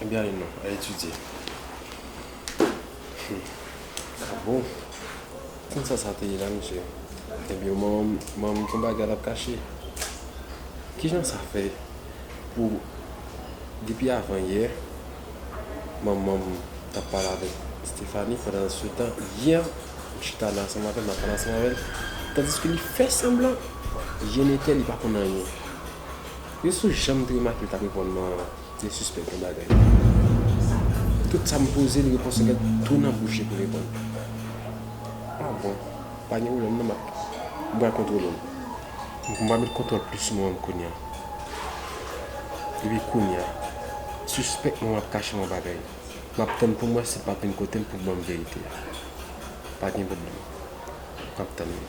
Ebyen ale non, al etidye. Hum a bon? Tand sa sa te ye la mesye? Ebyen mom, mom gon bagay lap kache. Kijan sa fè pou depi avan yè manmanm tap pale avèk Stephanie pandan se tan yè m chita la ansanm avèl map pale ansanm avèl tandiske li fè sanblan yè netè li pa konn anyen. Yo sou janm te remake li tap reponn man an. Li sispèk yon bagay. Tout sa m poze l, repons li ret tou nan bouch li pou reponn. Ah bon, pa gen pwoblèm non m ap, m pral kontwole l. M pral met kontwòl plis sou mwen kounye a. Depi kounye a, sispèk mwen ap kache m yon bagay. M ap tann pou m wè si l p ap vin kote m pou l ban m verite a. Pa gen pwoblèm. M ap tann li.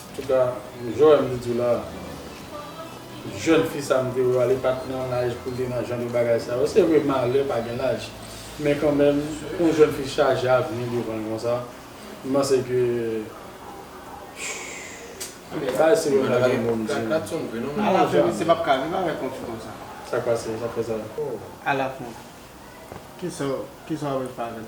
Antouka Joel m diw la jèn fi sa m te wè a li pat nan laj poul te nan jan de bagay sa yo se vre malè pa gen laj men kanmenm pou yon jèn fi chaje avni devanl konsa m panse ke bagay si vre m pa gen mo m di non. Sak pase sak fè sa. Ala fon. Kisa w ap fè avèl.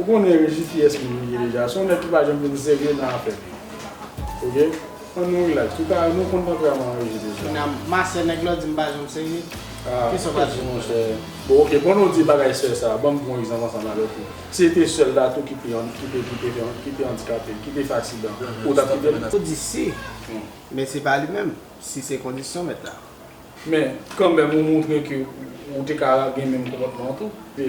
Ou konnen Regi kiyès moun li ye deja, se yon nèg ki pa janm vin serye nan afè li yo ok, an nou relax, nou ka, nou konn tanperaman Regi deja. Kounya ma sè nèg la di m pa janm serye, kisa w ka di pou sa? Bon ok, pandan w di bagay sè sa a, ban m pran yon egzanp ansanm avèk ou, si se te sè l la tou ki te an, ki te, ki te, ki te andikape, ki te fè aksidan, ou t ap kite l? Ou di si, men se pa li menm, si se kondisyon mèt la. Men, kanmenm ou montre ke ou te ka gen menm konpòtman an tou.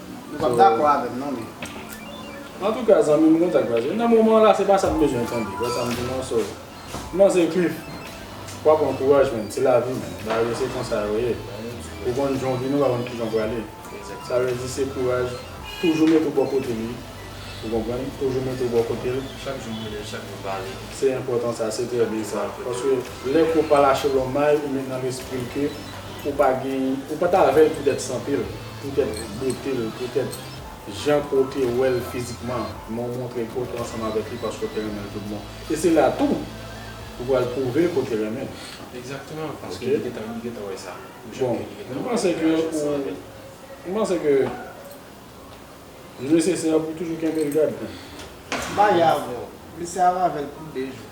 Nou pap dakò avèm non men. Antouka zanmim konn sak pase nan moman la se pa sam bezwen tande wè sam di non so non se kif wap pran kouraj menn se lavi menn bagay yo se konsa yo ye ou konn jan w vini ou pa konn kijan w prale sa vle di se kouraj toujou mete w bò kote li ou konprann toujou mete w bò kote l chak jou mwen leve chak jou pale se enpòtan sa se trè byen sa paske lè kò pa lache lòm may ou met nan lespri l ke. ou pa gen, ou pat avèl poutèt santel, poutèt botel, poutèt jan ke w te wèl fizikman, men w montre ke w te ansanm avèk li paske w te renmen l tout bon. E se la tou ou pral pwouve ke w te renmen l. Egzakteman, paske li gentan, li gentan wè sa. Bon, mwen panse ke ou, mwen panse ke li nesesè pou w toujou kenbe l gad tou. M parye avè w, mesye a avè l pou 2 jou.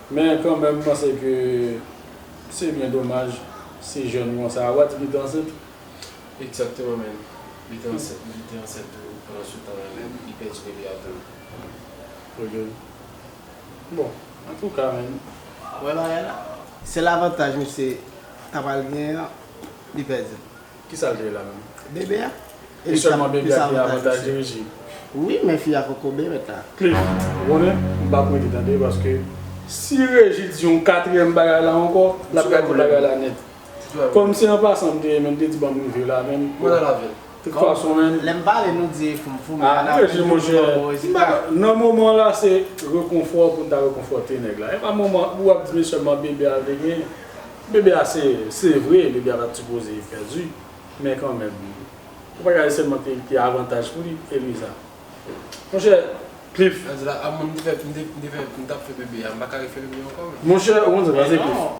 Men kanmenm m panse ke se byen domaj si jèn konsa a. Ou pa di li te ansent? Egzakteman men, li te ansent men li te ansent tou pandan sou tan an li li pèdi bebe a tou. Ok bon antouka men. Wè bagay la. Sèl avantaj misye ta pral gen an li pèdi l. Kisa l te ye la menm? Bebe a. E sèlman bebe a ki avantaj li regi? Wi men fi a poko bebe ta. Cliff, ou konnen, m pa prete tande paske si regi di yon katriyèm bagay la ankò, l ap gate bagay la nèt. Kòm se an pasan m te ye men l te di ban m rive la menm. Mwen al avè l. Tout fason menm. Lè m pale nou di fou m fou men an apre nou di nou bon rezilta. Nan moman an la se rekonfò pou n ta rekonfòte nèg la. E pa moman pou w ap di men sèlman bebe a l te genyen. Bebe a se se vre bebe a pat sipoze pèdi men kanmenm ou pa gade sèlman te avantaj pou li Eliza monchè Cliff. Sa di la a mwen m tap fè bebe a m paka refè bebe ankò menm. Monchè ou konn sa k pase Cliff.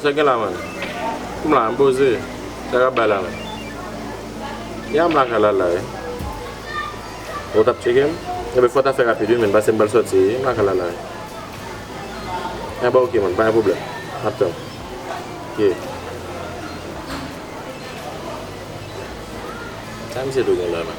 Sa gen la man. M la m poze. Sa kap bay la man. Ya m lakay la la wi. Ou tap tcheke m? Ebyen fò w ta fè rapid wi menn pase m pral sòti m lakay la la wi. Ebyen ok man pa gen pwoblèm. Map tann. Ok. Sa misye tou gen la man.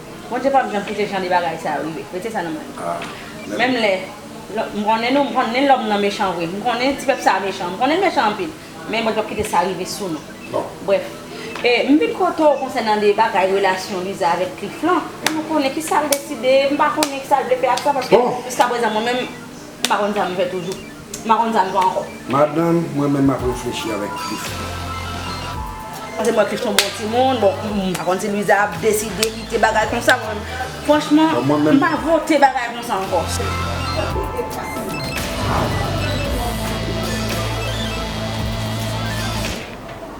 Bondye pap janm kite jan de bagay sa yo rive. Mete sa nan mind nou. Menm lè m konnen nou, m konnen lòm nan mechan vre. M konnen ti pèp sa a mechan. M konnen l mechan anpil. Men Bondye pap kite sa rive sou nou. Brèf. E m vin kote w konsènan de bagay relasyon Liza avèk Cliff lan. Pou nou konnen ki sa l deside. M pa konnen ki sa l vle fè ak sa paske jiska prezan mwen menm m pa konn sa m fè toujou. M pa konn sa m vle ankò. Madanm, mwen menm m ap reflechi avèk plis tan. Paske mwen plis yon bon timoun. Bon, m pa konn si Luiza ap deside kite bagay konsa pou mwen. Franchman, m pa vote bagay konsa ankò.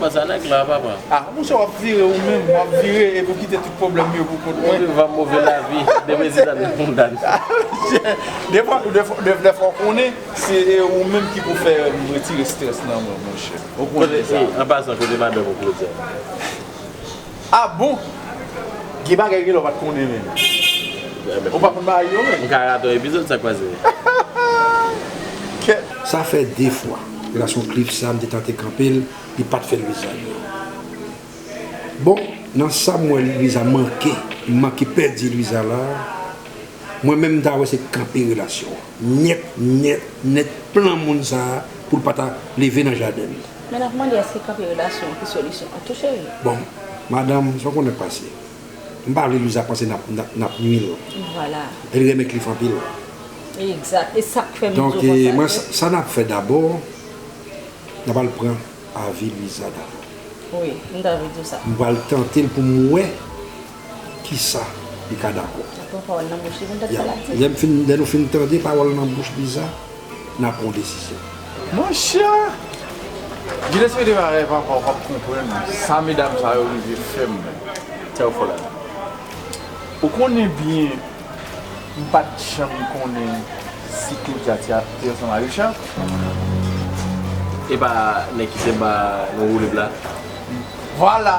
Bon sa nèg la papa. Ah monchè wap vire ou menm wap vire epi ou kite tout pwoblèm yo pou kont mwen. Mwen vivan move lavi demen zidane fon dan. Monchè dèfwa ou konnen se ou menm ki pou fè m retire strès nan mwen monchè ou konnen sa. An pasan kote madanm ou Claudia. Ah bon! Gen bagay gen lè w pat konnen menm. Ou pa konn bagay yo menm. M ka rate yon epizod sak pase. Kèt. Sa fè 2 fwa la son cliff sa m te tante kanpel li pat fèl vizaj li bon nan sam wè Luisa manke m manke pèdi Luisa la mwen menm m ta wè se t kanpe relasyon an nyèt nèt nèt plan moun sa poul pata leve nan jadenl. Men nap mande eske kanpe relasyon ki solisyon an tou cheri. Bon madanm sa w konnen k pase. M pa vle Luiza panse nap nwi l. Vwala. Li renmen Cliff anpil. Egzat. E sak fè m di w konsa. Donk sa nap fè dabò nap al pran avi Luiza dabò. Wi m ta vle di w sa. M pral tante l pou m wè. kisa li ka dakò. Nap pran pawòl nan bouch li pou n tèt pale ak li. Yap, lè nou fin tande pawòl nan bouch Biza, nap pran yon desizyon. Monchè! Gilles mete bagay papa ou pap konprann sa medam sa yo rive fè m tè ou fò la dan. Ou konnen byen m pat janm konnen si Claudia te te ansanm a Richard. Epa nèg ki te ba nou woulib la? Vwala!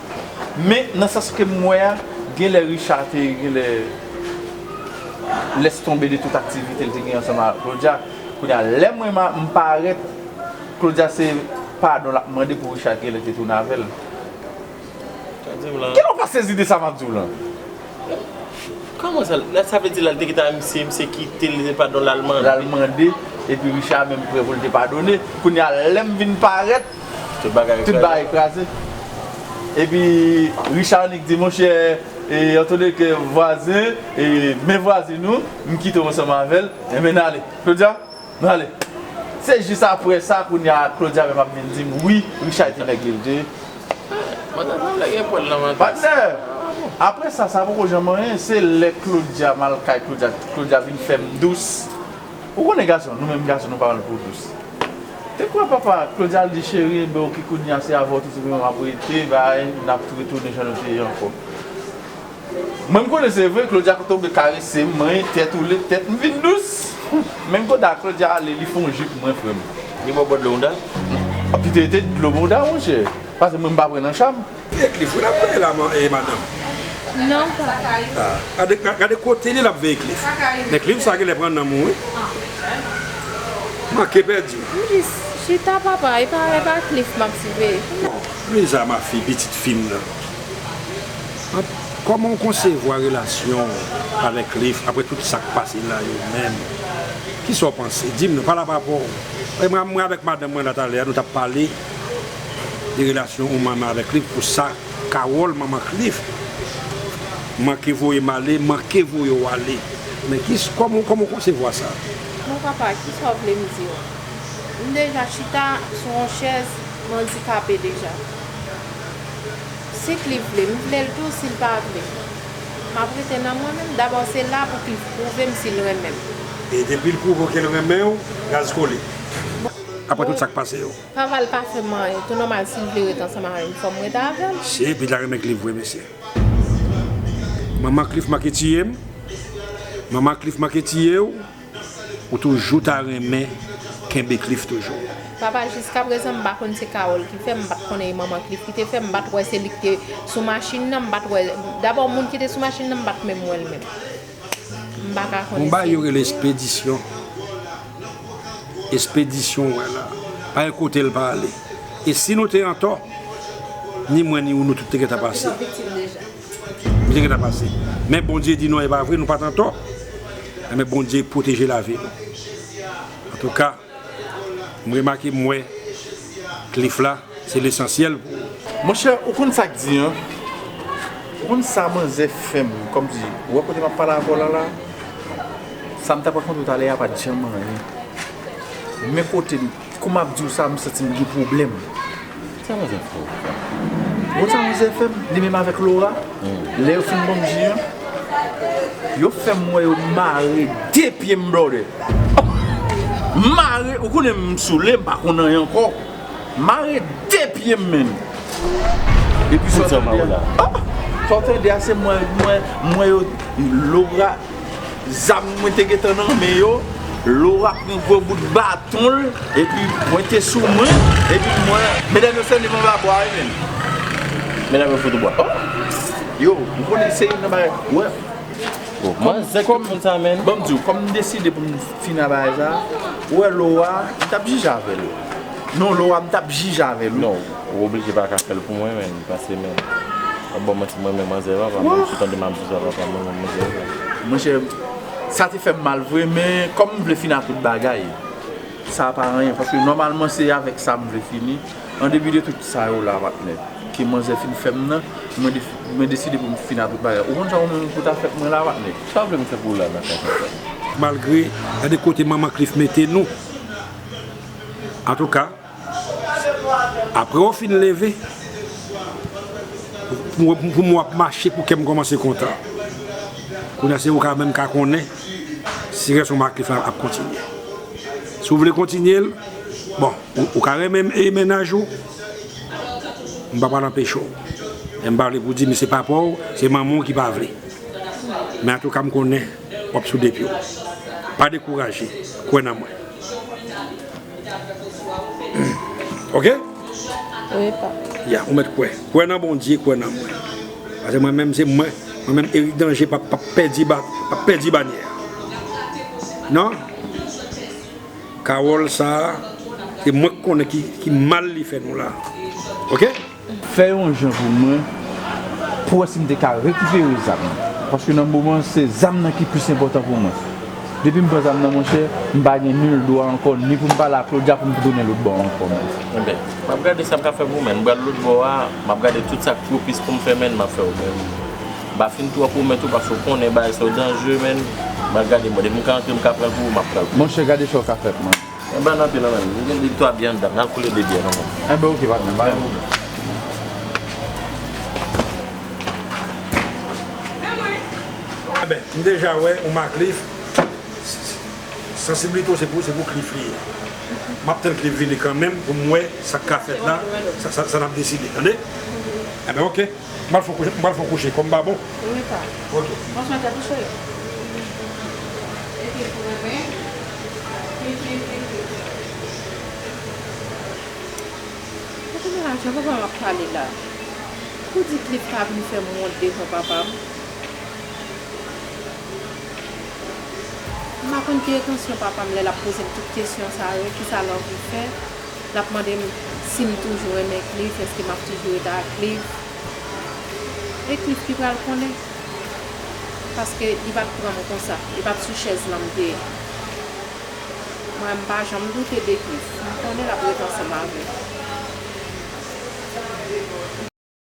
Men nan sans kem wè a genlè Richard te genlè lès tonbe de tout aktivite l te gen ansanm ak Claudia kounye a lè mwen m parèt Claudia se padon lap mande pou Richard t genlè te tounen avèl Kilè w pa sezi de sa map diw lan? Kòman sa lè sa vle di lal te gentan ak misye misye kite l se padon lal mande lal mande epi Richard menm prè pou l te padone kounye a lèm vin parèt. Tout bagay kraze. Epi Richard Nic di monchè Anthony ke vwazen e men vwazin ou m kite w ansanm avè l enben n ale. Claudia, nou ale. Se jis apre sa kounya Claudia menm ap vin di m wi Richard te nèg li l te. Pandan sa vle gen pwèl nan vant. Patnè! Apre sa sa poko janm anyen, se lè Claudia m al kay Claudia, Claudia vin fè m dous. Ou konnen gason, nou menm gason nou pa pran pou dous. Te kwè papa, Claudia di cheri enben ok kounya se avèw tout semen map rete bay nap tou retounen jan nou te ye ankò. Mwen m konnen se vre Claudia kote ou vle karesem mwen tèt ou led tèt m vin dous. Menm kote a Claudia ale li fon jip mwen frèm. Li baw bo dlo mouda? Pito ete dlo mouda monchè. Pase mwen m pa pran nan cham. Ki Cliff wi lap veye la madanm. Non papa. Gade kote li lap veye Cliff. Men Cliff sa genlè pran nanm ou wi. Manke pèdi w. Chita papa epa Cliff map siveye. Lisa ma fille pitit fim nan. Komanw konsevwa relasyonw avèk Cliff aprè tout sak pase la yo menm. Kisaw panse dim non pala pa paw. Mwen avèk madanm mwen la talè a nou tap pale. de relasyon ou manman avèk Cliff pou sa Carole manman Cliff manke voye m ale manke voye w ale men ki kòman w konsevwa sa? Bon papa kisa w vle m di w m deja chita sou yon chèz m andikape deja si Cliff vle m vle l tou si l pa vle m ap rete nan mwen menm dabò se la pou Cliff pwouve m si l renmen m. E depi l pwouve w ke l renmen w gaz kole. Bon. aprè tout sak pase yo. Kaval pa fè m anyen tou nòmal si m vle ret ansanm avè m fòm ret avè l. Si epi la renmen cliff vre mesye. Manman cliff manke tiye m. Manman cliff manke tiye w. Ou toujou ta renmen kenbe cliff toujou. Papa jiskaprezan m pa konn se Carole ki fè m pat konnen e manman cliff ki te fè m pat wè se li ki te sou machin nan m pat wè dabò moun ki te sou machin nan m pat menm wè l menm. Konba yo rele espedisyon. Espedisyon ou wè la. Pa gen kote l pa ale. E si nou te antò, ni mwen ni ou nou tout te gentan pase. Nou te gentan pase. Men Bondye di non e pa vre nou pa t antò. Enben Bondye pwoteje lavi nou. Antouka. M remake m wè Cliff la se lesansyèl pou ou. Monchè ou konn sak di an ou konn sa manzè fèm kòmsi ou wè kote map pale avèw la la sam tap rakontew talè a pat janm anyen men kotem kou map diw sa m santim gen pwoblèm. Sa mwen fè fè w la? Bon sa mwen fè fè m, li menm avèk Lora, lè yo fin ban m ji an, yo fè m wè yo mare 2 pye m blòdè. Mare, ou konnen m soule, m pa konn anyen ankò. Mare 2 pye m menn. Epi sa w tande a, sa w tande a se mwen, mwen, mwen yo, Lora. zam mwen te gentan nan men yo, Laura pran gwo bout baton l, epi mwen te sou mwen, epi mwen. Medam yo fèm devan ba bwa wi menn. Medam yo fout ou bwa. Oh! Yo, ou konnen se youn nan bagay, wè. Oh, manzè ki moun sa menn. Banm di w, kòm m deside pou m fini ak bagay sa, ou wè Laura, m tap jije avè l. Non Laura m tap jije avè l wi. Ou oblije paka fèl pou mwen menm pase menm wap banm manti mwen menm manzè papa menm sou tande map viv a papa mwen menm manzè papa. Monchè sa te fèm mal vre men kòm m vle fini ak tout bagay sa pa anyen paske nòmalman se avèk sa m vle fini an depi de tout sa yo la patnè ke manzè fin fèm nan mwen deside pou m fini ak tout bagay ou konn sa ou menm pou ta fè pou mwen la patnè. Sa w vle m fè pou w la nan kay sa patnè. Malgre gade kote manman Cliff mete nou antouka. Apre w fin leve, pou mwen ap mache pou kè m kòmanse kontan. Kounye a se ou k ap menm ka konnen si relasyon m ak Cliff la ap kontinye. Si w vle kontinye l, bon, ou ka renmen m e mennaj ou, m pa pral anpeche w. Men m pa vle pou w di m se papa w, se manman w ki pa vle. Men antouka m konnen w ap sou de pye w. Pa dekouraje, kwè nan mwen. Ok. Ya ou met kwe. Kwe nan bondye, kwe nan mwen. Ase mwen menm se mwen. Mwen menm Eric Danger pa pa pedi ba pa pedi banye. Nan. Carole sa. Se mwen konnen ki mal li fe nou la. Ok. Fè yon jan pou mwen pou wè si m te ka rekipere zam nan paske nan moman an se zam nan ki plis enpòtan pou mwen. Depi m pran zam nan monchè, m pa gen nil dwa ankò ni pou m pale ak Claudia pou m tounen lotbò a ankò menm. Enben, m ap gade sa m ka fè pou mwen. M pral lotbò a, m ap gade tout sa k pwopis pou m fè menn, m ap fè yo menn. M pa fin twò pwomèt ou paske ou konnen bagay sa yo danjre menn, m pral gade mwen. Depi m ka antre m ka pran l pou ou, m ap pran l pou ou. Monchè gade sa w ka fè pou mwen. Mwen ban anpil anmweyy m gen 2 3 byè andan m nan koule 2 byè non mwen. Enben ok patnè bay yon moman. Enben m deja wè ou ma Cliff sansiblite w se pou se pou Cliff li ye map tann Cliff vini kanmenm pou m wè sak ka fèt la sa nap deside tande enben ok. Mwen al fon kouche, mwen al fon kouche kom pa bon. Wi pa. Ok. Mwen swen tet ou cheri. Wi. Epil renmen. Pi pi pi pi. Kote mwen la jan papa m ap pale la. Pou di klik pa vin fem wont devan papa m. M pa konn ki etansyon papa m le lap poze m tout kesyon sa yo, kisa l anvi fe. l ap mande m si m toujou renmen Cliff, èske m ap toujou rete ak Cliff. E Cliff ki pral konnen. Paske li pa t pran m konsa. Li pa t sou chèz lan m te ye. Mwen, m pa janm doute de Cliff. M konnen l ap rete ansanm avè m.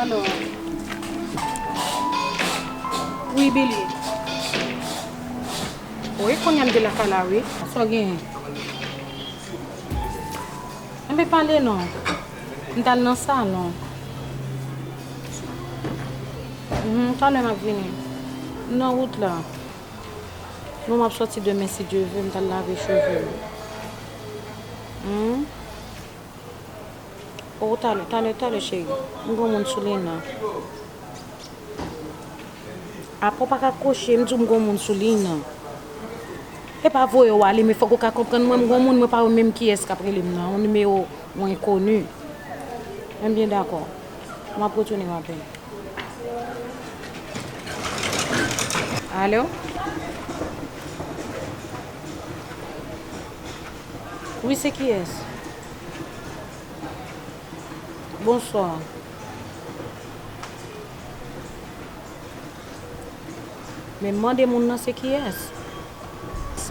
Ano Wi Billy Oh e konnya m te lakay la wi. Sa w genyen? Enben pale non M t al nan salon Humm talè m ap vini M nan wout la Bon m ap soti demen si Dye ve M t al lave cheve m Humm. Oh talè talè talè cheri. M gon moun sou li nan. Apa w pa ka kwoche m di w m gon moun sou liy nan. E pa voye w ale men fòk ou ka konprann mwen m gon moun mwen pa wè menm kiyès k ap rele m nan. On nimewo on enkoni. M byen dakò. M ap retounen w apre. Alo? Wi se kiyes? Bonsoir. Men mande moun nan se kiyes?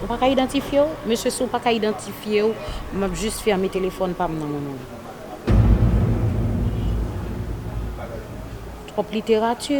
Ou pa ka idantifye w? Mesye si w pa ka idantifye w, m ap jis fèmen telefòn pa m nan men w. Twòp literati.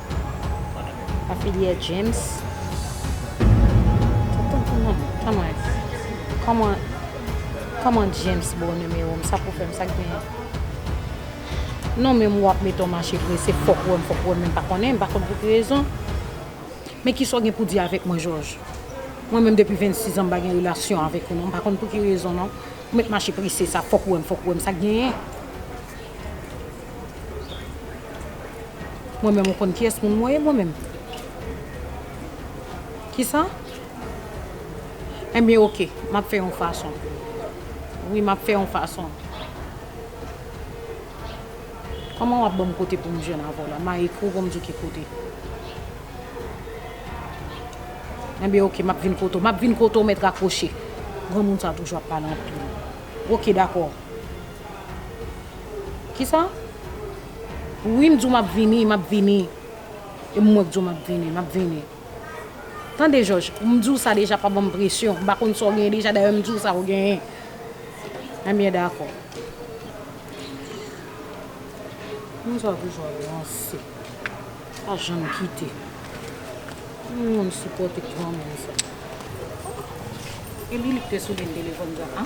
Afilyè James Kòman Kòman James ba w nimewo m sa pou w fè m sa k genyen Non men ou ap mete w mache prese fò w wè m fò w wè m men m pa konnen m pa konn pou ki rezon Men kisa w gen pou di avèk mwen Jòj Mwen menm depi 26 an m pa gen relasyon avèk ou non m pa konn pou ki rezon non ou met mache prese sa fò w wè m fò w wè m sa k genyen. Mwen menm ou konn kiyès moun mwen ye mwen menm? Kisa? Enben ok, m ap fè yon fason. Wi, m ap fè yon fason. Kòman w ap ban m kote pou m jwenn avè w la? M a ekri w pou m di w ki kote. Enben ok, m ap vin kote w. M ap vin kote w mèt rakwoche. Granmoun sa a toujou ap pale anpil. Ok dakò. Kisa? Wi m di w m ap vini, m ap vini. E mwen k di w m ap vini, m ap vini. Tande Jòj, m di w sa deja pa ban m presyon. M pa konn sa w genyen deja dayè m di w sa w genyen. Enben dakò. Moun sa toujou ap ranse. Pa janm kite. M pa janm sipòte granmoun sa. Epi li k te soule m telefòn sa a.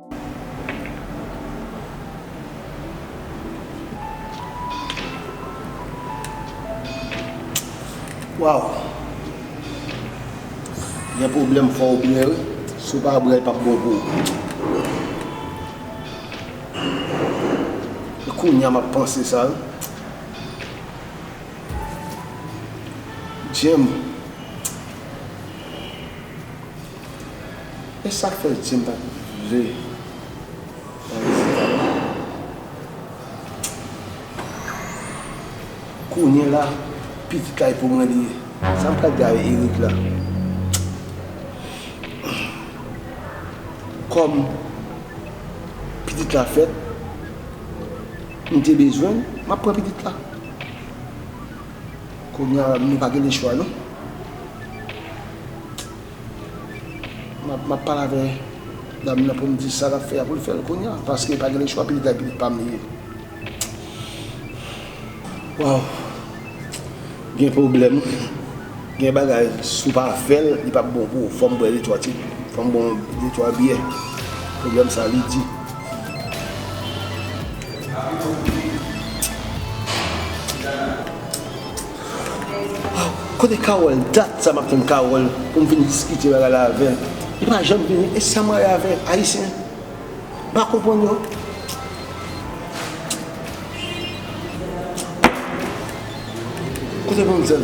Waw Gen pwoblèm fòw bwè wi si w pa bwè l pap bon pou ou Se kounya map panse sa wi Djèm. E sak fè Jim pat vle nan resital la? Kounye la pitit kay pou mwen li ye. Sam pral di avè Erick la? Kòm pitit la fèt, m te bezwen l, map pran pitit la. Kounye a nou pa gen lechwa non. Map pale avè dam nan poum di sa lap fè a poul fèl kounya paske pa gen le chwa pitit la pitit pam li ye waww gen problèm gen bagay sou pa fèl li pap bon pou ou fòm bwè de twa ti fòm bon de twa byè problèm sa li di. Kote Carole dat sa map tann Carole poum vin diskite bagay la avèl li pa janm vini e sam rayi avè ayisyen m pa konprann yo. Kote manzèl.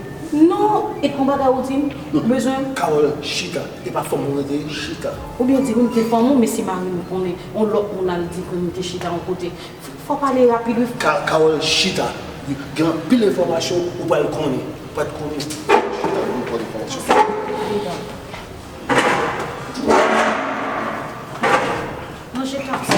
Non e kon bagay ou dim m bezwen. Carole chita e pa fanm ou rete chita. Ou byen di wi m te fanm ou men si mari m konnen yon lot moun al di ke m te chita yon kote fò w pale rapid wi frè. Carole chita wi gen anpil enfòmasyon ou pral konnen ou pat konnen chita wi twòp enfòmasyon. Sa m te di dan. Manje kap sa.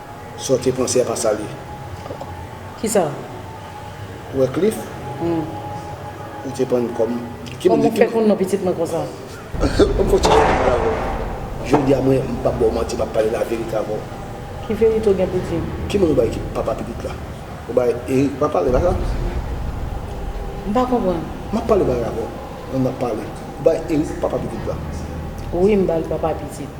Saw te panse a pa sa li. Kisa? Wycliffe ou te pran kòm. Kòman ou fè konn non pitit mwen konsa? Banm fon ti jan pou m pale avèw. Jodia mwen m pap baw manti map pale la verite avèw. Ki verite ou gen pou dim? Ki moun ou bay ki papa pitit la? Ou bay Erick papa li pa sa? M pa konprann. Map pale bagay avèw mwen map pale. Ou bay Erick papa pitit la? Wi m bal papa pitit.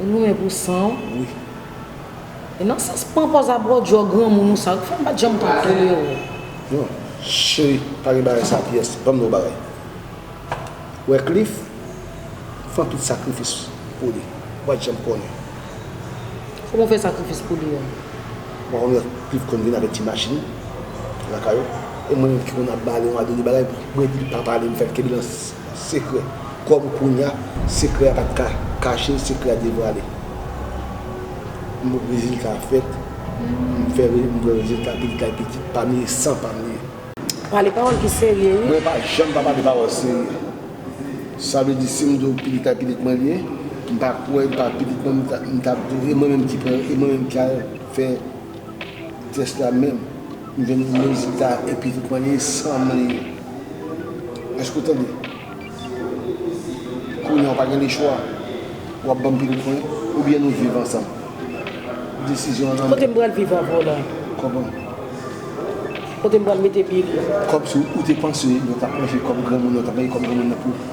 Ou goumen pou san w wi. E nan sans pran pòz a bwè w djò granmoun ou sa yo ki fè m pat janm ka tolere w. Non cheri pa gen bagay sa pyès banm di w yon bagay ou wè Cliff fè tout sakrifis pou li ou pat janm konnen. Kòman w fè sakrifis pou li an? Ou pa konnen Cliff konn vin avèk ti machin lakay ou e mwen menm ki konn ap ba li yon a de bagay mwen di l pa pale m fè l kenbe nan. Sekrè. Kòm kounya sekrè a pa t ka kache, sekrè a devwale. M wè rezilta a fèt. M fè m wè rezilta pi kay pi di. Pami san pa m li ye. Pale pawòl ki serye wi. Mwen pa janm pa pale pawòl serye. Sa vle di si m di w pi kay pi di mwen li ye, m pa kwè m pa pi di mwen m ta di w e mwen menm ki pran e mwen menm ki al fè. Jès la menm m jwenn mizik la epi tout mwen li san m li èske w tande kounya w pa gen lechwa w ap ban m pitit mwen oubyen nou viv ansanm desizyon an nan men Kote m pral viv avè w la? Kòb an. Kote m pral mete pye m nan? Kòb sou ou te panse yo t ap manje kòb granmoun yo t ap manje kòb granmoun nan pou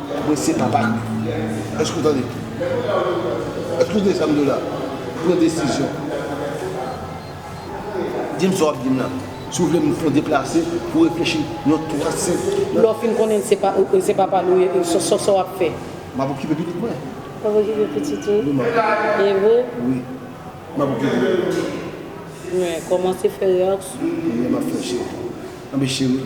Mwen se papa eske ou tande eske ou tande sam diw la pran desizyon dim sa wap dim la si ou vle m fon deplase pou reflechi yon 3 5 nan. Lè w fin konnen se papa l ou ye sa wap fè. Map okipe pitit mwen. Wap okipe pitit ou. Wi map. E ou. Wi map okipe l. Mwen komanse fè reyaksyon. Map fè cheri. Anbe cheri.